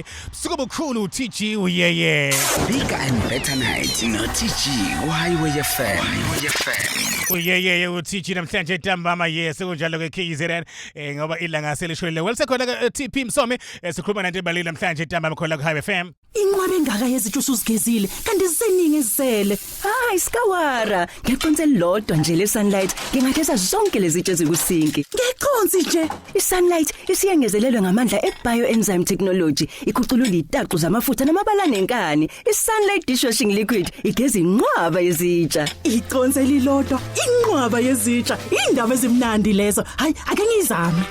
busuku obukhulu utg uyeye Bigger and better night no-TG ku-Highway FM. Highway FM. uyeyeye utg namhlanje ntambama yes kunjalo ke kzn eh, ngoba ilanga selishonile welisekhona ke tp msomi eh, sikhuluma nanto ebalile namhlanje ntambama khona ku-highway fm Inqwaba engaka yezitsha usuzigezile kanti ziseningi ezisele. Hayi skawara, ngiyaconsa elilodwa nje le sunlight. Ngingageza zonke lezitshe ezikusinki. Ngeconsi nje. I-sunlight isiyengezelelwe ngamandla e-bioenzyme technology ikhuculula itaxu zamafutha namabala nenkani i-sunlight dishwashing liquid igeza inqwaba yezitsha Iconsi elilodwa, inqwaba yezitsha, indaba ezimnandi lezo. Hayi, ake ngizame.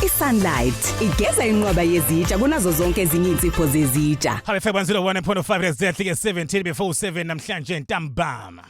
iSunlight igeza inqwaba yezitsha kunazo zonke ezinye insipho zezitsha. Habe fake 101.5 let's death like 17 before 7 namhlanje ntambama.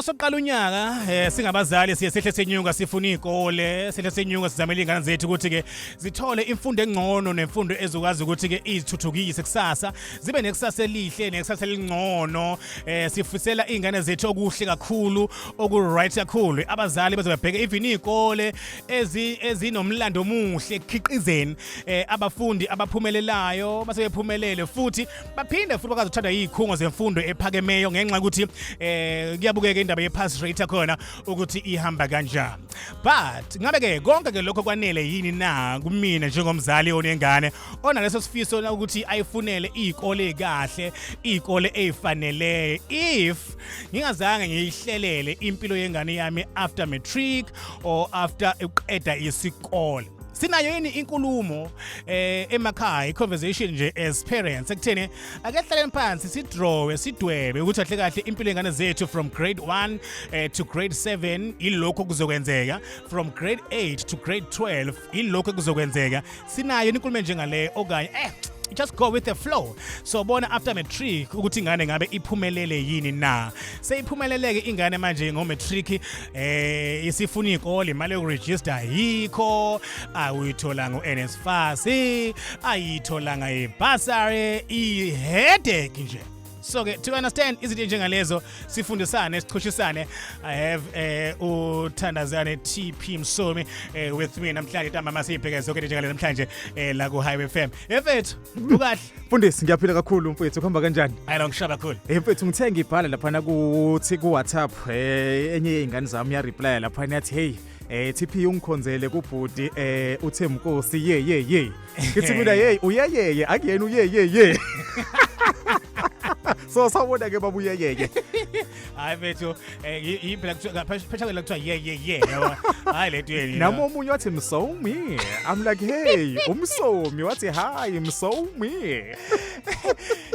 uma soqala unyaka eh singabazali siye sihle senyuka sifuna izikole sihle senyuka sizamela ingane zethu ukuthi ke zithole imfundo engcono nemfundo ezokwazi ukuthi ke izithuthukise kusasa zibe nekusasa elihle nekusasa elingcono eh sifisela izingane zethu okuhle kakhulu oku right kakhulu abazali bazobabheka even izikole ezi ezinomlando omuhle ekhiqizeni eh abafundi abaphumelelayo basebephumelele futhi baphinde futhi bakazi uthanda izikhungo zemfundo ephakemeyo ngenxa ukuthi eh kuyabukeka indaba ye pass rate khona ukuthi ihamba kanjani but ngabe ke konke ke lokho kwanele yini na kumina njengomzali onengane onaleso sifiso na ukuthi ayifunele izikole kahle izikole ezifanele if ngingazange ngiyihlelele impilo yengane yami after matric or after uqeda isikole sinayo yini inkulumo eh emakhaya iconversation nje as parents ekutheni akehlaleni phansi sidrowe sidwebe ukuthi ahle kahle impilo yengane zethu from grade 1 eh, to grade 7 ilokho kuzokwenzeka from grade 8 to grade 12 ilokho kuzokwenzeka sinayo inkulumo njengale okanye eh just go with the flow so bona after matric ukuthi ingane ngabe iphumelele yini na seyiphumeleleke ingane manje ngo matric eh isifuna ikole imali yokuregister yikho awuyitholanga uNSFAS ayitholanga ibasari iheadache nje so ke to understand izinto njengalezo sifundisane sichushisane i have eh uthandazane TP Msomi eh, with me namhlanje ntamba masibheke zonke into njengalezo namhlanje eh, la ku Highway FM efethu ukahle mfundisi ngiyaphila kakhulu mfethu kuhamba kanjani hayi lo ngishaba kakhulu eh mfethu ngithe ngibhala lapha kuthi ku WhatsApp eh enye yeingane zami ya reply lapha yathi hey eh TP ungikhonzele kubhuti eh uThemkosi ye ye ye ngithi mina yeyi uyeyeye akuyena uyeyeye so sawubona ke baba uyeyeye hayi bethu eh, yi- yini phela kuthiwa- phesha- phesha kwela kuthiwa ye ye ye yabo. hayi le ntweni yini. nami omunye wathi msomi i'm like hey umsomi wathi hayi msomi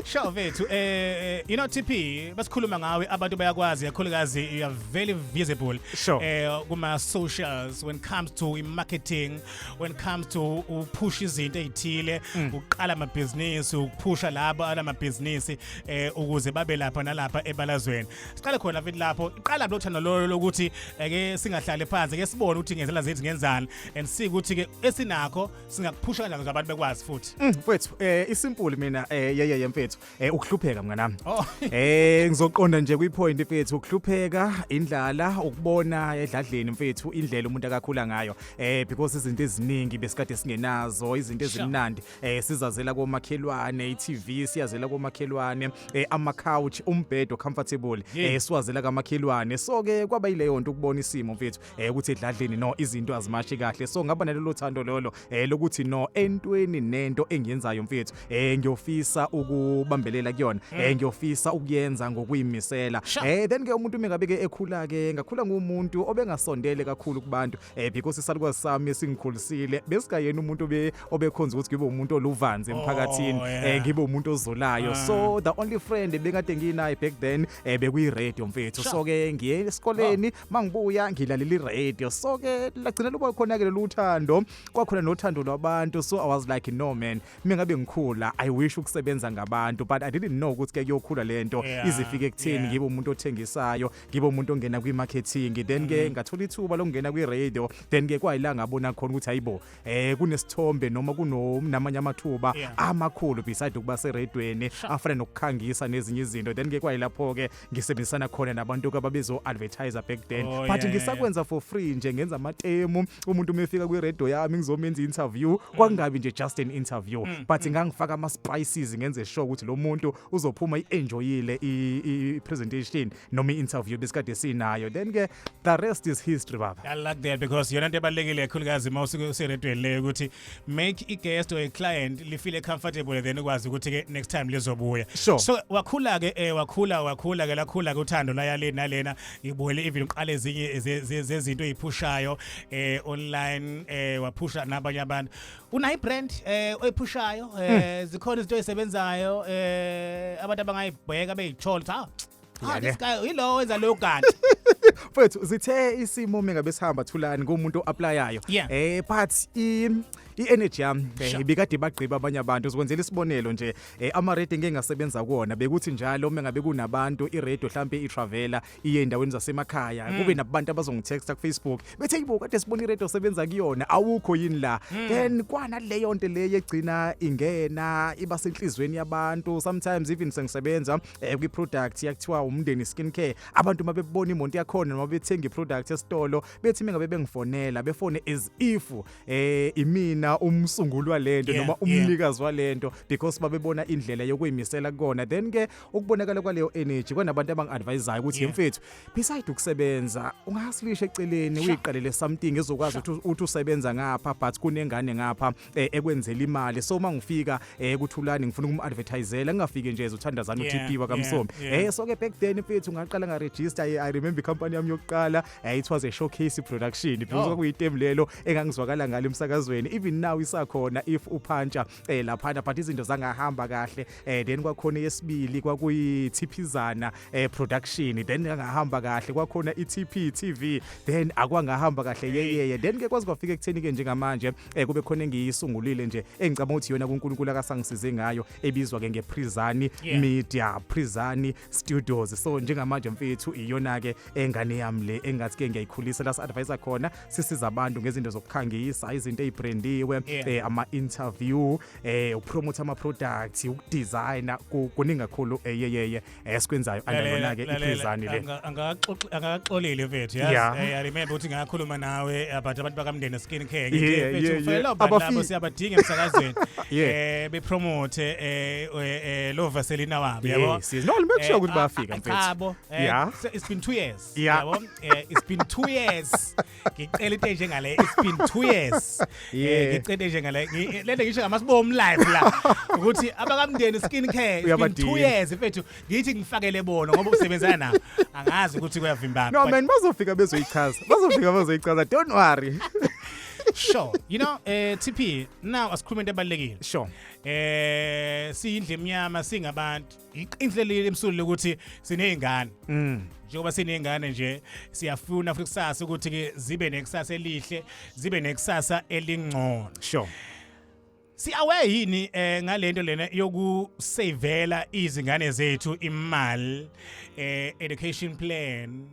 Sure vethu eh you know TP basikhuluma ngawe abantu bayakwazi kakhulukazi you are very visible Sure. eh kuma socials when it comes to marketing when it comes to uphusha izinto ezithile mm. uqala amabhizinisi ukuphusha labo alamabhizinisi eh ukuze babe lapha nalapha ebalazweni siqale khona mfethu lapho iqala lo thando lolo lokuthi eh, ke singahlale phansi ke sibone ukuthi ngenzela zethu ngenzani and see ukuthi ke esinakho singakuphusha kanjani abantu bekwazi futhi mm, mfethu eh isimple mina eh yeye mfethu Eh ukuhlupheka mnganami. Oh. Eh ngizoqonda nje kwipoint mfethu ukuhlupheka indlala ukubona edladleni mfethu indlela umuntu akakhula ngayo. Eh because izinto eziningi besikade singenazo izinto ezimnandi eh sizazela komakhelwane iTV siyazela komakhelwane eh ama couch umbhedo comfortable eh siwazela kamakhelwane so ke kwaba yileyo nto ukubona isimo mfethu. eh ukuthi edladleni no izinto azimashi kahle so ngaba nalelo thando lolo eh lokuthi no entweni nento engiyenzayo mfethu eh ngiyofisa ukubambelela kuyona mm. eh ngiyofisa ukuyenza ngokuyimisela eh then ke umuntu mengabe ke ekhula ke ngakhula ngumuntu obengasondele kakhulu kubantu eh because isalukwazi sami esingikhulisile besikayena umuntu obe obekhonza ukuthi ngibe umuntu oluvanzi emphakathini oh, eh ngibe umuntu ozolayo ah. so the only friend bekade nginaye back then eh bekuyi radio mfethu so ke ngiye esikoleni mangibuya ngilaleli radio so ke lagcina luba khona ke loluthando kwakhona nothando lwabantu so i was like no man mina ngabe ngikhula i wish ukusebenza ngabantu but i didn't know ukuthi ke kuyokhula lento Yeah, izifike ekutheni yeah. ngibe umuntu othengisayo ngibe umuntu ongena kwi marketing then ke Mm. ngathola ithuba lokungena kwi radio then ke kwayila ngabona khona ukuthi hayibo eh kunesithombe noma kunomnamanye amathuba Yeah. amakhulu beside ukuba seredweni afana nokukhangisa nezinye izinto then ke kwayilapho ke ngisebenzisana khona nabantu kababezo-advertiser back then Oh, but yeah, yeah, ngisakwenza for free nje ngenza amatemu umuntu uma efika kwiredio yami ngizomenza i-interview Mm. kwakungabi nje just an interview but ngangifaka ama-spices ngenze sure ukuthi lo muntu uzophuma i-enjoyile i- i- i-presentation noma i-interview besikade sinayo then-ke the rest is history baba I like that because yona into ebalulekile kakhulukazi uma usuke useredweni leyo ukuthi make i guest or a client li feel comfortable then ukwazi ukuthi ke next time lizobuya Sure. so wakhula ke eh wakhula wakhula ke lakhula ke uthando laya le nalena ngibuyele even uqale ezinye ze- ze- zezinto eziphushayo eh online eh waphusha nabanye abantu unayi brand eh oyiphushayo eh zikhona izinto ezisebenzayo eh abantu abangayibheka beyithola ukuthi ah Ah, Yale. this guy yilowo wenza leyo kanti. mfethu zithe isimo mina besihamba thulani kumuntu oaplayayo Yeah. eh but i i-energy yami eh, Sure. ibikade bagqiba abanye abantu uzokwenzela isibonelo nje eh, ama-radio engike ngasebenza kuwona bekuthi njalo uma ngabe kunabantu i-radio hlampe i-travela iye endaweni zasemakhaya kube nabantu abazongitexta kufacebook bethe yibo kade sibona i-radio osebenza kuyona awukho yini la then kwanaleyo nto leyo egcina ingena iba senhliziyweni yabantu sometimes even sengisebenza eh, kwi-product yakuthiwa umndeni skin care abantu uma bebona imonto yakhona noma bethenga i-product esitolo bethi mengabe bengifonela befone as if eh imina umsunguli walento Yeah, noma yeah. umnikazi walento because babebona indlela yokuyimisela kukona then ke ukubonakala kwaleyo energy kwanabantu abangi-advisayo ukuthi Yeah. yemfethu beside ukusebenza ungasilisha eceleni uyiqalele something ezokwazi ukuthi uthi usebenza ngapha but kunengane ngapha eh, ekwenzela imali so uma ngifika eh, kuthulani ngifuna ukum-advertisela ngingafike nje ezothandazana Yeah, u-tp wakamsomi yeah, yeah. Eh, so ke back then mfethu ngaqala ngaregister i I remember ikampani yami yokuqala eh, it was a showcase production because Oh. kwakuyitem lelo engangizwakala ngalo emsakazweni even now isakhona if uphantsha eh, laphana but izinto zangahamba kahle eh then kwakhona yesibili kwakuyi Thiphizana eh production then ngahamba kahle kwakhona iTP TV then akwangahamba kahle yeyeye then ke kwazi kwafika ekutheni ke njengamanje eh kube khona engiyisungulile nje engicabanga ukuthi yona kuNkulunkulu akasangisize ngayo ebizwa ke ngePrizani Yeah. Media Prizani studios so njengamanje mfethu iyona ke engane yami le engathi ke ngiyayikhulisa la advisor khona sisiza abantu ngezinto zokukhangisa izinto ezibrandiwe yeah. eh, ama interview eh upromote ama products ukudesigner kuningi kakhulu eyeyeye eh, esikwenzayo eh, anayona ke iphezani le angakaxolile mfethu yes yeah. eh, i remember ukuthi ngakhuluma nawe eh, but abantu bakamndeni skin care ngithi mfethu ufela abantu labo siyabadinga emsakazweni eh bepromote eh eh, eh, lo vaselina wabo yabo Yes, yes. No, limekushiya ukuthi bayafika, mfethu. mfethu Yeah. it's been 2 years Yeah. yabo Eh, it's been 2 years ngicela into enje ngale it's been 2 years Eh, Yeah. ngicela into enje ngale Ngi- lento ngisho ngamasibomu live la ukuthi abakamndeni skin care it's been 2 Uyabadinga. years mfethu ngithi ngifakele bona ngoba usebenzana nabo angazi ukuthi kuyavimbana no But- man bazofika bezoyichaza bazofika bazoyichaza don't worry sure you know eh TP now asikhuluma into ebalekile sure eh siyindle emnyama singabantu iqinhle leli emsulile ukuthi sinezingane mm. njengoba sinezingane nje siyafuna futhi kusasa ukuthi ke zibe nekusasa elihle zibe nekusasa elingcono sure siaware yini eh ngalento lena yokusavela izingane zethu imali eh education plan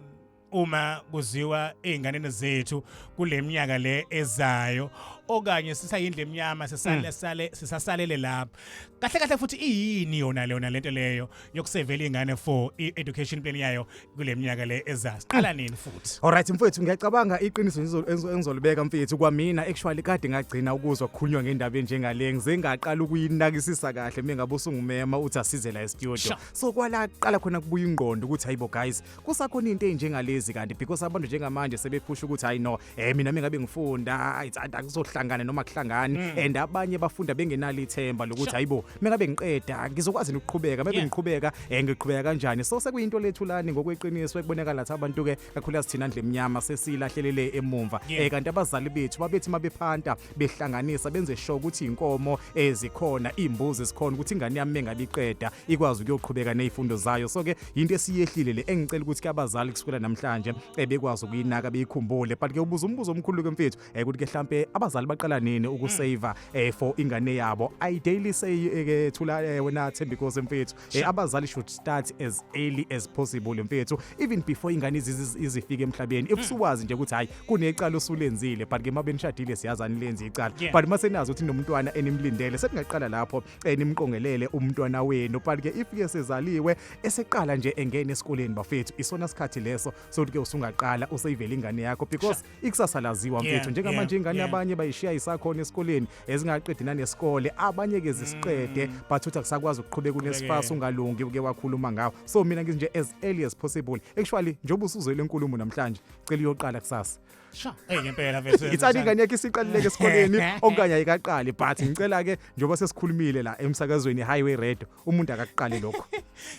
uma kuziwa ezinganeni zethu kuleminyaka le ezayo okanye sisayindle emnyama sisale mm. sale sisasalele lapha kahle kahle futhi iyini yona leyona lento leyo yokusevela ingane for education plan yayo kuleminyaka le ezayo siqala nini futhi all right mfowethu ngiyacabanga iqiniso engizolibeka mfethu kwamina actually kade ngagcina ukuzwa kukhulunywa ngendaba enjengale ngize ngaqala ukuyinakisisa kahle mina ngabe usungumema uthi asize la e studio so kwala qala khona kubuya ingqondo ukuthi hayibo guys kusakhona into enjengalezi kanti because abantu njengamanje sebephusha ukuthi hayi no eh mina mengabe ngifunda it's akuzohlangana noma kuhlangani mm. and abanye bafunda bengenalo ithemba lokuthi hayibo mengabe ngiqeda ngizokwazi ukuqhubeka mebe ngiqhubeka eh ngiqhubeka kanjani so sekuyinto lethu lani ngokweqiniso ekubonakala ukuthi abantu ke kakhulu asithina ndle emnyama sesilahlelele emumva eh kanti abazali bethu babethi mabephanta behlanganisa benze sure ukuthi inkomo ezikhona imbuzi sikhona ukuthi ingane yami engaliqeda ikwazi ukuyoqhubeka nezifundo zayo so ke into esiyehlile le engicela ukuthi ke abazali kusukela namhlanje ebekwazi eh, ukuyinaka beyikhumbule but ke ubuza umbuzo omkhulu ke mfethu eh, ukuthi ke mhlambe abazali baqala nini ukusave eh, for ingane yabo i daily say ke thula wena Thembi Nkosi mfethu abazali should start as early as possible mfethu even before ingane izifike emhlabeni if mm. siwazi nje ukuthi hayi kunecala usulenzile but ke mabenishadile siyazani lenza icala yeah. but masenazi ukuthi nomntwana enimlindele sekungaqala lapho enimqongelele eh, umntwana wenu but ke if ke sezaliwe eseqala nje engene esikoleni bafethu isona sikhathi leso sokuthi ke usungaqala useyivela ingane yakho because ikusasa laziwa mfethu yeah, njengamanje yeah, ingane yeah. abanye bayishiya isakhona esikoleni ezingaqedi nanesikole abanye ke zisiqede mm. but uthi akusakwazi ukuqhubeka unesifasa ungalungi uke wakhuluma ngawo so mina ngithi nje as early as possible actually njengoba usuzwele inkulumo namhlanje cela uyoqala kusasa sha hey ngempela mfethu ithani ingane yakhe isiqalileke esikoleni okanye ayikaqali but ngicela ke njengoba sesikhulumile la emsakazweni highway red umuntu akakuqali lokho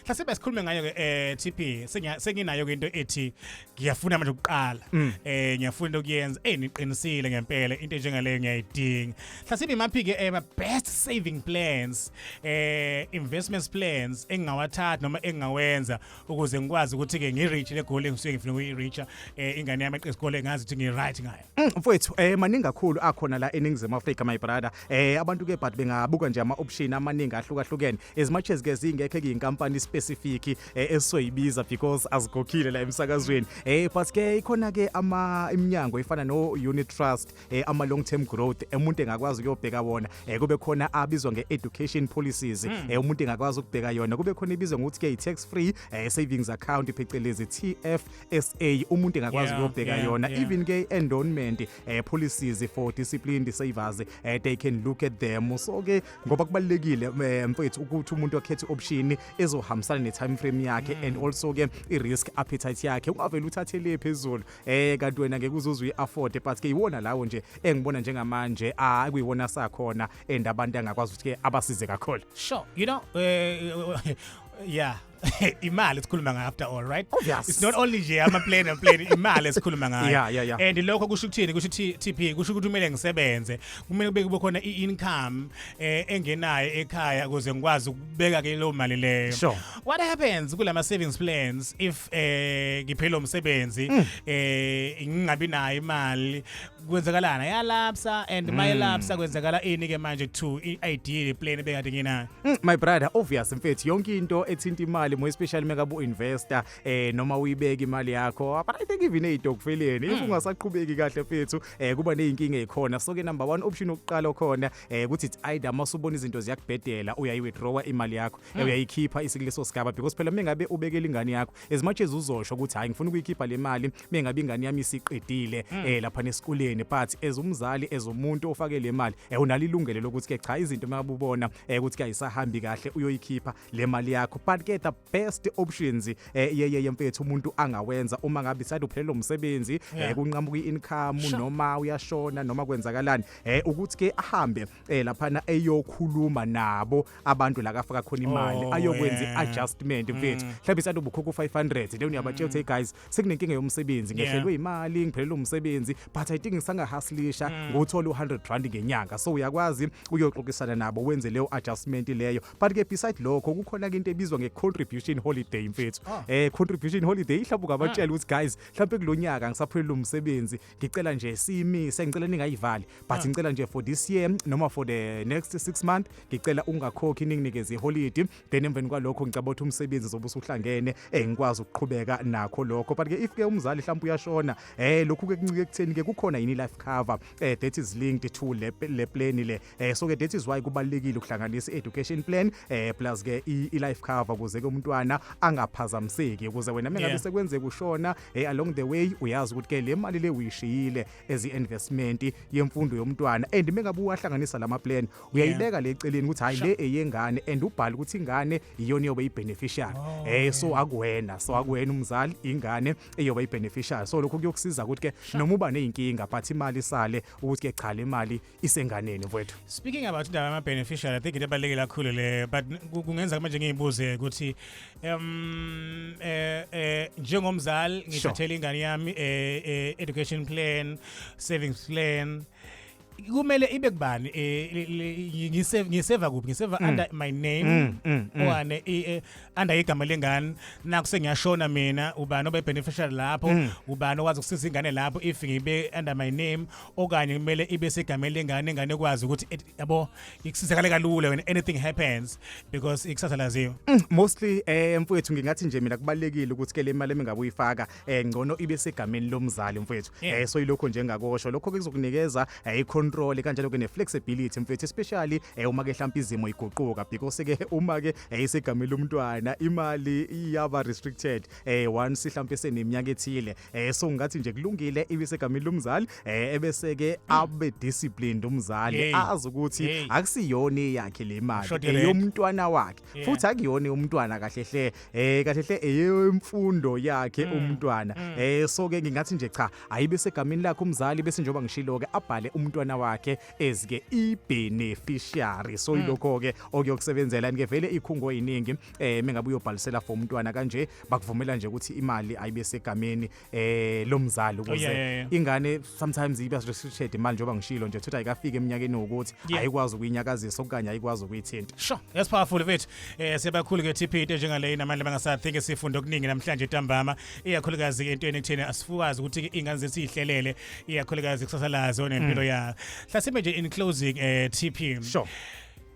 hlase besikhulume ngayo ke eh TP senginayo ke into ethi ngiyafuna manje ukuqala mm. eh ngiyafuna into kuyenza eh niqinisile ngempela into njengaleyo ngiyayidinga hlase imaphi ke eh best saving plans eh investments plans engingawathatha noma engingawenza ukuze ngikwazi ukuthi ke ngireach le goal engisuke ngifuna ukuyireacha eh, ingane yami eqe isikole ngazi ukuthi ngiryt ngayo mm, mfowethu eh maningi kakhulu akhona la eningizimu Africa my brother eh abantu ke but bengabuka nje ama option amaningi ahlukahlukene as much as ke zingekhe kuyinkampani specific eh, esoyibiza because azikhokhile la emsakazweni eh but ke ikhona ke ama iminyango ifana no unit trust eh, ama long term growth umuntu engakwazi ukuyobheka wona eh, kube khona abizwa nge education policies hmm. eh, umuntu engakwazi ukubheka yona kube khona ibizwa ngokuthi ke tax free eh, savings account phecelezi TFSA umuntu engakwazi ukuyobheka yona even ke endowment eh, policies for disciplined savers eh, they can look at them so ke ngoba kubalekile eh, mfethu ukuthi umuntu akhethe option ezohambisana ne time frame yakhe hmm. and also ke i risk appetite yakhe ungavele uthathele phezulu eh kanti wena ngeke uzuzwe i-afford but ke iwona lawo nje engibona njengamanje ah kuyiwona sakhona and abantu angakwazi ukuthi ke abasize kakhulu sure you know uh, yeah imali sikhuluma ngayo after all right oh, yes. it's not only nje ama plane and plane imali sikhuluma ngayo yeah, yeah, yeah. and lokho kusho ukuthini kusho TP kusho ukuthi kumele ngisebenze kumele kube kube khona i-income eh engenayo ekhaya ukuze ngikwazi ukubeka ke leyo mali leyo sure. what happens kulama savings plans if eh ngiphela umsebenzi mm. eh ngingabi nayo imali kwenzakalana yalapsa and mm. mayelapsa kwenzakala ini ke manje to ideal plan ebekade nginayo mm, my brother obvious mfethu yonke into ethinta imali mo especially meka bu investor eh noma uyibeka imali yakho but i think even ezitokfeleni if ungasaqhubeki kahle mfethu eh kuba nezinkinga ezikhona so ke number 1 option okuqala okhona eh ukuthi it's either masubona izinto ziyakubhedela uyayi withdrawa imali yakho eh, uyayikhipha isikuleso sigaba because phela mengabe ubekela ingane yakho as much as uzosho ukuthi hayi ngifuna ukuyikhipha le mali mengabe ingane yami isiqedile eh lapha nesikoleni but as umzali as umuntu ofake le mali eh unalo ilungelo lokuthi ke cha izinto mabubona eh ukuthi kayisahambi kahle uyoyikhipha le mali yakho but ke the best options eh yeye yemfethu umuntu angawenza uma ngabe sathi uphelelwa umsebenzi eh Yeah. kunqamuka i-income Sure. noma uyashona noma kwenzakalani eh ukuthi ke ahambe cela phana eyokhuluma nabo abantu la kafaka khona imali Oh, ayokwenza yeah. i-adjustment mfethu mhlawumbe isathi ubukhokha u-500 then uyabatshela ukuthi hey guys sekunenkinga yomsebenzi Yeah. ngehlelwe imali ngiphelelwe umsebenzi but i think ngisangahaslisha nguthola u-100 rand ngenyanga so uyakwazi uyoxoxisana nabo wenze leyo adjustment leyo but ke beside lokho kukhona-ke into ebizwa nge-contribution holiday mfethu um contribution holiday ihlawumbe ungabatshela ukuthi guys mhlawumbe kulo nyaka ngisaphelelwe umsebenzi ngicela nje siyimise ngicela ningayivali but ah. ngicela nje for this year noma for the next 6 month ngicela ungakhokhi ninginikeze iholiday then emveni kwalokho ngicabanga ukuthi umsebenzi zobe usuhlangene eh ngikwazi ukuqhubeka nakho lokho but ke if ke umzali mhlawumbe uyashona eh lokhu ke kuncike ekutheni ke kukhona yini life cover eh that is linked to le le plan le eh so ke that is why kubalekile ukuhlanganisa education plan eh plus ke i life cover kuze ke umntwana angaphazamiseki ukuze wena mengabe yeah. sekwenzeka ushona eh along the way uyazi ukuthi ke le mali le uyishiyile as investment yemfundo yomntwana and mengabe uwahlanganisa lama plan uyayibeka le celeni ukuthi hayi le eyengane and ubhala ukuthi ingane iyona yobe ibeneficiary oh, eh so akuwena so akuwena umzali ingane eyobe ibeneficiary so lokho kuyokusiza ukuthi ke noma uba nezinkinga but imali sale ukuthi ke cha le mali isenganeni mfowethu speaking about indaba ama beneficiary i think into ebaluleke kakhulu le but kungenza manje ngiyibuze ukuthi um eh eh njengomzali ngithathele ingane yami eh, eh education plan savings plan kumele ibe kubani eh, ngiseva ngiseva kuphi ngiseva mm. under my name mm, mm, mm. owane eh, under igama lengane naku sengiyashona mina ubani obe beneficiary lapho mm. ubani owazi ukusiza ingane lapho if ngibe under my name okanye kumele ibe segameni lengane ingane ekwazi ukuthi eh, yabo ikusizakale kalula when anything happens because ikusasa laziwa mm, mostly eh mfowethu ngingathi nje mina kubalekile ukuthi ke le mali emingabe uyifaka eh ngcono ibe segameni lomzali mfowethu yeah. eh so ilokho nje ngakosho lokho kuzokunikeza eh, icontrol kanjalo ke neflexibility mfowethu especially eh, uma ke mhlawumbe izimo iguquka because ke uma ke eh, isegameni lomntwana imali iyaba restricted eh one sihlampe seneminyaka ethile eh so ngathi nje kulungile ibisegamini lomzali eh ebese ke abe disciplined umzali Hey. azi ukuthi Hey. akusiyona eyakhe le mali Short rent. eyomntwana wakhe Yeah. futhi akuyona umntwana kahle hle eh kahle hle eyemfundo yakhe Mm. umntwana eh so ke ngingathi nje cha ayibe segamini lakhe umzali bese njengoba ngishilo ke abhale umntwana wakhe ezike i beneficiary so ilokho ke okuyokusebenzela ngevele ikhungo eziningi eh mengabe uyobhalisela for umntwana kanje bakuvumela nje ukuthi imali ayibe segameni eh lomzali ukuze oh, yeah, yeah, yeah. ingane sometimes iba restricted imali njengoba ngishilo nje ukuthi ayikafiki eminyakeni wokuthi yeah. ayikwazi ukuyinyakazisa okanye ayikwazi ukuyithinta sure yes powerful mfethu eh siyabakhulu ke TP into njengale namandla bangasa think sifunde okuningi namhlanje ntambama iyakhulukazi ke entweni ekutheni asifukazi ukuthi ingane zethu ihlelele iyakhulukazi kusasa lazo nempilo mm. yayo hlasimbe nje in closing eh TP sure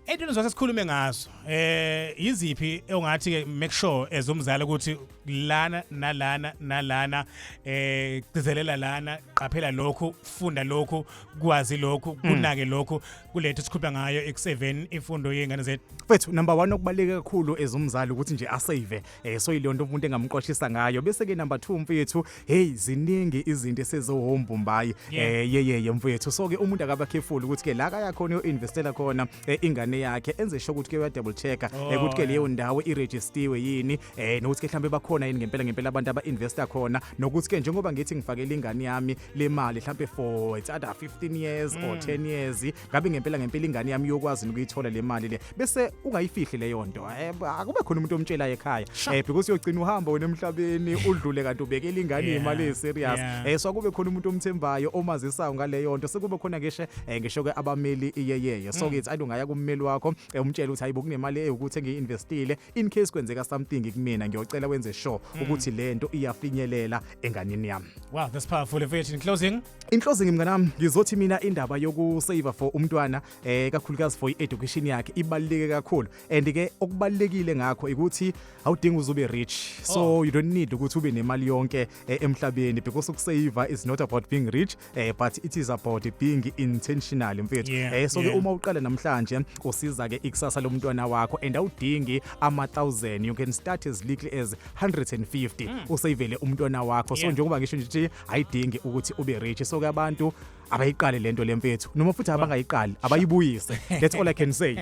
Into nizose sikhulume ngazo eh yiziphi ongathi ke make sure as umzali ukuthi lana nalana nalana eh cizelela lana qaphela lokhu funda lokhu kwazi lokhu hmm. kunake lokhu kulethe sikhupha ngayo ekuseveni imfundo yengane zethu. Mfethu number 1 okubaleke kakhulu as umzali ukuthi nje asave eh so ilonto umuntu engamqoshisa ngayo bese ke number 2 mfethu hey ziningi izinto esezohombo mbayi eh yeyeye mfethu so ke umuntu akaba careful ukuthi ke la kaya khona uinvestela khona eh, ingane yakhe enze sho ukuthi ke uya double checker Oh, eh, ukuthi ke leyo ndawo iregistiwe yini eh nokuthi ke mhlambe bakhona yini ngempela ngempela abantu aba investor khona nokuthi ke njengoba ngithi ngifakele ingane yami le mali mhlambe for it's either 15 years or 10 years ngabe ngempela ngempela ingane yami yokwazi ukuyithola le mali le bese ungayifihli leyo nto Eh, akube khona umuntu omtshela ekhaya eh because uyogcina uhamba wena emhlabeni udlule kanti ubekela ingane Yeah, imali eserious yeah. eh so kube khona umuntu omthembayo omazisayo ngaleyo nto sekube khona ngisho eh, ngisho ke abameli iyeyeye Mm. so ngithi ayi ungaya kummeli wakho eh, umtshele ukuthi hayibo kunemali ewukuthi engiyi-investile in case kwenzeka something kumina ngiyocela wenze sure mm. ukuthi lento iyafinyelela enganini yami wow that's powerful mfethu in closing in closing mngane wami ngizothi mina indaba yoku save for umntwana eh kakhulukazi for education yakhe ibaluleke kakhulu and ke okubalekile ngakho ukuthi awudingi uzube rich so oh. you don't need ukuthi ube nemali yonke eh, emhlabeni because ukusave is not about being rich eh but it is about being intentional mfethu Yeah, eh so ke yeah. uma uqala namhlanje kusiza ke ikusasa lomntwana wakho and awudingi ama 1000 you can start as little as 150 usayivele umntwana wakho so Yeah. njengoba ngisho nje ukuthi ayidingi ukuthi ube rich so ke abantu abayiqale lento lemfethu noma futhi abangayiqali abayibuyise that's all i can say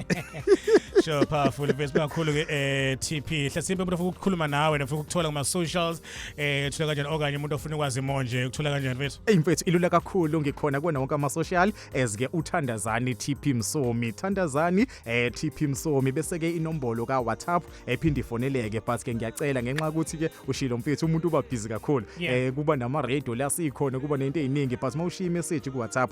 sure powerful mfethu kakhulu ke eh TP hlasimbe umuntu ofuna ukukhuluma nawe nofuna ukuthola kuma socials eh thola kanjani okanye umuntu ofuna ukwazi more nje ukuthola kanjani mfethu Eyi mfethu ilula kakhulu ngikhona kuwona wonke ama-social as ke uthandazani TP Msomi thandazani eh TP Msomi bese ke inombolo ka WhatsApp ephinde ifoneleke but ke ngiyacela ngenxa ukuthi ke ushilo mfethu umuntu uba busy kakhulu Yeah. eh kuba nama radio la sikhona kuba nento eziningi but mawushiya message ku WhatsApp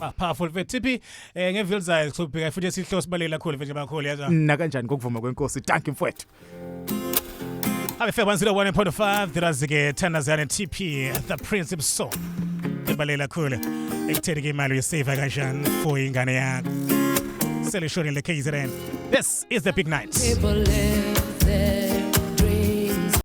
Ah, powerful mfethu thiphi eh ngevil zayo kusubheka futhi esihlo sibalekela kakhulu mfethu abakhulu yazi na kanjani kokuvuma kwenkosi thank you mfowethu abefeba 101.5 ndirazike thandazane tp the principal song ebalekela kakhulu ekutheni ke imali uyisave kanjani for ingane yakho selishoni le kzn this is the big night People live there.